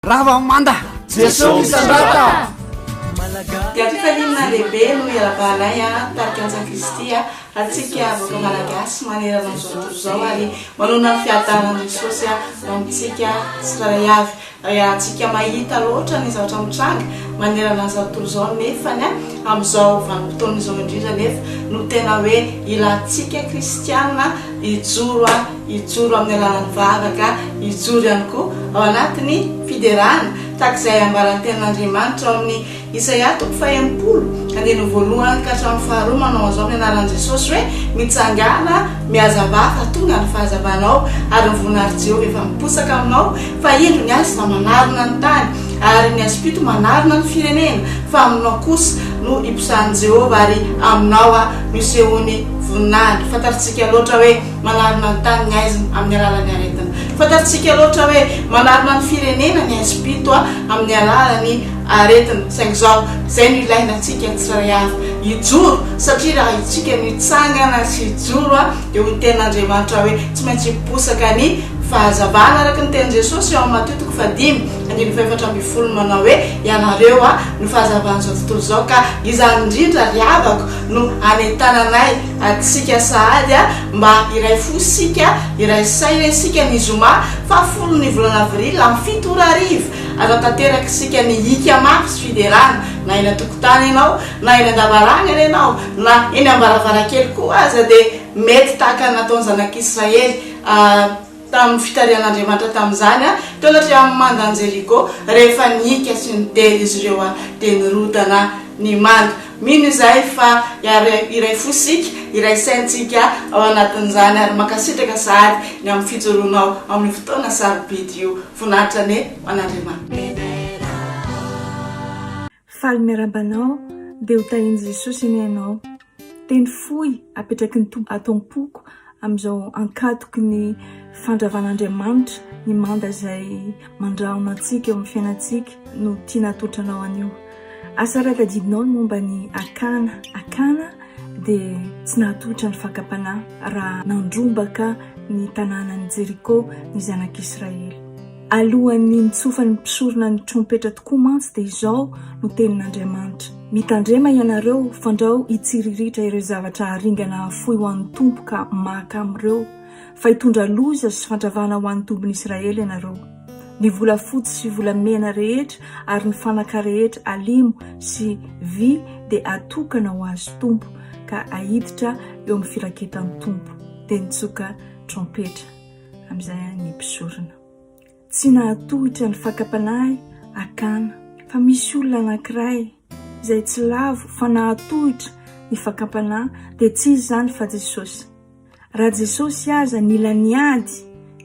Rava manda! Jeso misandrata! Dia fifaliana lehibe no iarabahanay a, tarika Antsa Kristy a, antsika vahoaka Malagasy manerana an'izao tontolo izao ary manonona ny fiadanan'i Jesosy a, ho amintsika tsirairay avy. Iarahantsika mahita loatra ny zavatra mitranga manerana an'izao tontolo izao nefany a, amin'izao vanim-potoana izao indrindra anefa no tena hoe ilantsika kristiana hijoro a, hijoro amin'ny alalan'ny vavaka, hijoro ihany koa ao anatin'ny fiderana, tahaka izay ambaran'ny Tenin'Andriamanitra ao amin'ny Isaia toko fahenimpolo, andininy voalohany ka hatramin'ny faharoa, manao an'izao amin'ny anaran'i Jesosy hoe, Mitsangàna, mihazavà, fa tonga ny fahazavanao, ary ny voninahitry Jehovah efa miposaka aminao, fa indro ny azy efa manarona ny tany, ary ny hazom-pito manarona ny firenena, fa aminao kosa no hiposahan'i Jehovah, ary aminao no hisehoany voninahiny. Fantatsika loatra hoe. manarina ny tany ny aizina amin'ny alalan'ny aretina. Fantatsika loatra hoe manarina ny firenena ny aizim-pito amin'ny alalan'ny aretina, saingy izao izay no ilaina antsika ny tsirairay avy hijoro, satria raha isika no hitsangana sy hijoro dia ho ny tenin'Andriamanitra hoe tsy maintsy hiposaka ny fahazavana araka ny tenin'i Jesosy ao Matio toko fahadimy andininy fahefatra ambin'ny folo manao hoe ianareo no fahazavan'izao tontolo izao ka izany indrindra ry havako no anentananay Adintsika sahady a, mba iray fo isika, iray saina isika ny zoma faha folo ny volana avril amin'ny fito ora hariva. Atao tanteraka isika ny hika mafy sy fiderana, na eny an-tokotany ianao, na eny an-davarangana ianao, na eny am-baravarankely koa aza dia mety tahaka ny nataon'ny zanak'Israely. tamin'ny fitarihan'Andriamanitra tamin'izany, taona teo amin'ny manda an'i Jeriko, rehefa nihiaka sy nidera izy ireo, dia nirodana ny manda. Mino izahay fa iray fo isika, iray saintsika ao anatin'izany, ary mankasitraka sahady ny amin'ny fijoroanao amin'io fotoana sarobidy io. Voninahitra anie ho an'Andriamanitra. Faly miarahaba anao dia ho tahin'i Jesosy anie ianao. Teny fohy apetraky ny Tompo ato am-poko amin'izao ankatoky ny fandravan'Andriamanitra ny manda izay mandrahona antsika eo amin'ny fiainantsika no tiana hatolotra anao anio. Asa raha tadidinao ny momba ny Akana. Akana dia tsy nahatolotra ny fakam-panahy raha nandrombaka ny tanànan'i Jeriko ny zanak'Israely. Alohan'ny nitsofan'ny mpisorona ny trompetra tokoa mantsy dia izao no tenin'Andriamanitra, Mitandrema ianareo, fandrao hitsiriritra ireo zavatra haringana hafoy ho an'ny Tompo ka maka amin'ireo, fa hitondra loza sy fandravana ho an'ny tombon'Israely ianareo. Ny volafotsy sy volamena rehetra ary ny fanaka rehetra alimo sy vy dia atokana ho azy Tompo ka ahiditra eo amin'ny firaketan'ny Tompo. Dia nitsoka trompetra. Amin'izay ny mpisorona tsy nahatohitra ny fakam-panahy hakana fa misy olona anankiray izay tsy lavo fa nahatohitra ny fakam-panahy dia tsy izy izany fa Jesosy. Raha Jesosy aza nila niady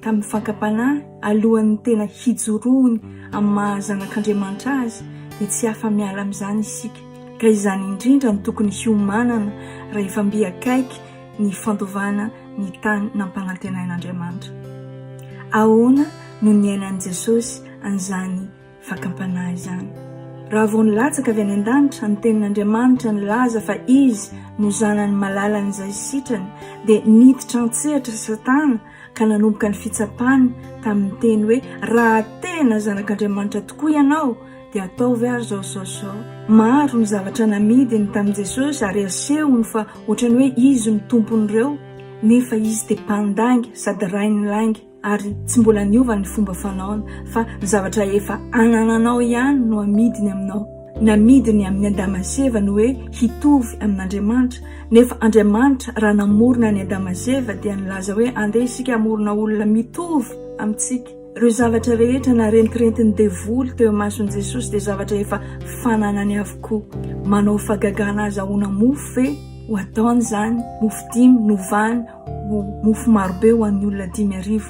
tamin'ny fakam-panahy alohan'ny tena hijoroany amin'ny maha zanak'Andriamanitra azy dia tsy afa-miala amin'izany isika ka izany indrindra no tokony hiomanana rahefa mby akaiky ny fandovana ny tany nampanantenain'Andriamanitra. Ahoana no niainan'i Jesosy an'izany fakam-panahy izany? Raha vao nilatsaka avy any an-danitra ny Tenin'Andriamanitra nilaza fa izy no Zanany malalan'izay sitrany, dia niditra an-tsehatra Satana ka nanomboka ny fitsapany tamin'ny teny hoe raha tena zanak'Andriamanitra tokoa ianao dia ataovy ary izao izao izao. Maro ny zavatra namidiny tamin'i Jesosy ary asehony fa ohatran'ny hoe izy no tompon'ireo, nefa izy dia mpandainga sady rain'ny lainga ary tsy mbola niova ny fomba fanaony fa ny zavatra efa anananao ihany no amidiny aminao. Namidiny amin'ny Adama sy Eva ny hoe hitovy amin'Andriamanitra, nefa Andriamanitra raha namorona an'i Adama sy Eva dia nilaza hoe andeha isika hamorona olona mitovy amintsika. Ireo zavatra rehetra narentirentin'ny devoly teo imason'i Jesosy dia zavatra efa fananany avokoa. Manao fahagagana azy ahona mofo ve ho ataony izany? Mofo dimy novany mofo marobe ho an'ny olona dimy arivo.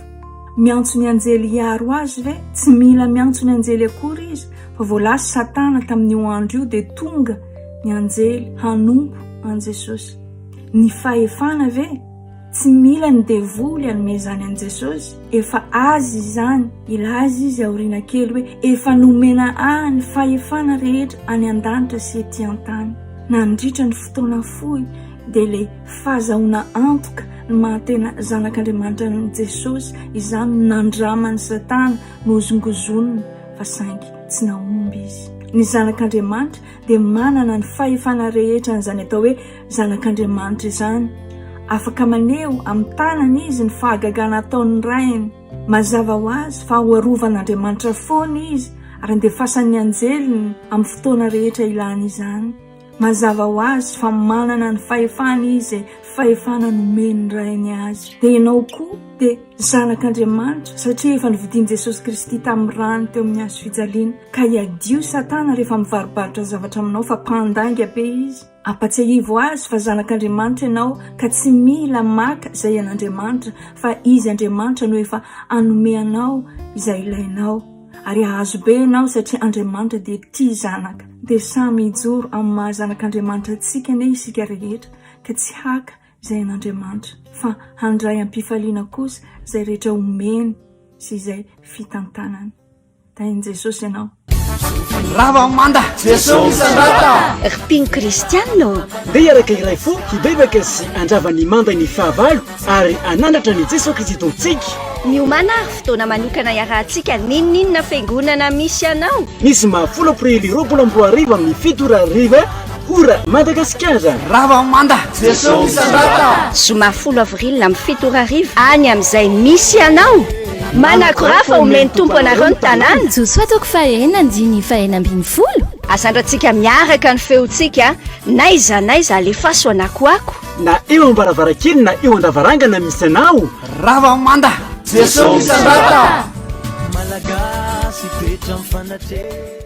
Miantso ny anjely hiaro azy ve? Tsy mila miantso ny anjely akory izy, fa vao lasa Satana tamin'io andro io dia tonga ny anjely hanompo an'i Jesosy. Ny fahefana ve? Tsy mila ny devoly hanome izany an'i Jesosy, efa azy izany. Hilaza izy aoriana kely hoe efa nomena ahy ny fahefana rehetra any an-danitra sy ety an-tany. Nandritra ny fotoana fohy dia le Fahazahoana antoka ny maha-tena Zanak'Andriamanitra an'i Jesosy izany nandraman'i Satana nohozongozonina, fa saingy tsy nahomby izy. Ny Zanak'Andriamanitra dia manana ny fahefana rehetra an'izany atao hoe Zanak'Andriamanitra izany. Afaka maneho amin'ny tanany izy ny fahagagana ataon'ny Rainy. Mazava ho azy fa hoarovan'Andriamanitra foana izy ary andefasan'ny anjeliny amin'ny fotoana rehetra ilany izany. Mazava ho azy fa manana ny fahefana izy izay fahefana nomen'ny Rainy azy. Dia ianao koa dia zanak'Andriamanitra satria efa novidian'i Jesosy Kristy tamin'ny rany teo amin'ny hazo fijaliana. Ka ihadio Satana rehefa mivarobarotra zavatra aminao fa mpandainga be izy. Ampatsiahivo azy fa zanak'Andriamanitra ianao ka tsy mila maka izay an'Andriamanitra fa Izy Andriamanitra no efa hanome anao izay ilainao. Ary hahazo be ianao satria Andriamanitra dia tia zanaka. Dia samy hijoro amin'ny maha zanak'Andriamanitra antsika anie isika rehetra ka tsy haka izay an'Andriamanitra fa handray am-pifaliana kosa izay rehetra omeny sy izay fitantanany. Tahin'i Jesosy ianao. Rava manda, Jeso misandrata! Ry mpino kristiana ô! Ndeha hiaraka iray fo hibebaka sy handrava ny mandan'ny fahavalo Ary hanandratra an'i Jesoa Kristy Tompontsika. Miomàna àry fotoana manokana iarahantsika n'inon'inona fiangonana misy anao. Misy mba folo Aprily roapolo amby roa arivo amin'ny fito ora hariva, Ora Madagasikara. Rava manda! Jesoa misandrata! Zoma folo Avril amin'ny fito ora hariva any amin'izay misy anao. Manakora fa homen'ny Tompo anareo ny tanàna. Josoa toko fahahena andininy fahahena ambin'ny folo. Azandratsika miaraka ny feontsika, n'aiza n'aiza alefaso anakoako. Na eo am-baravarankely na eo an-davarangana misy anao Rava manda Jesosy misandrata Malagasy fetra mifanatre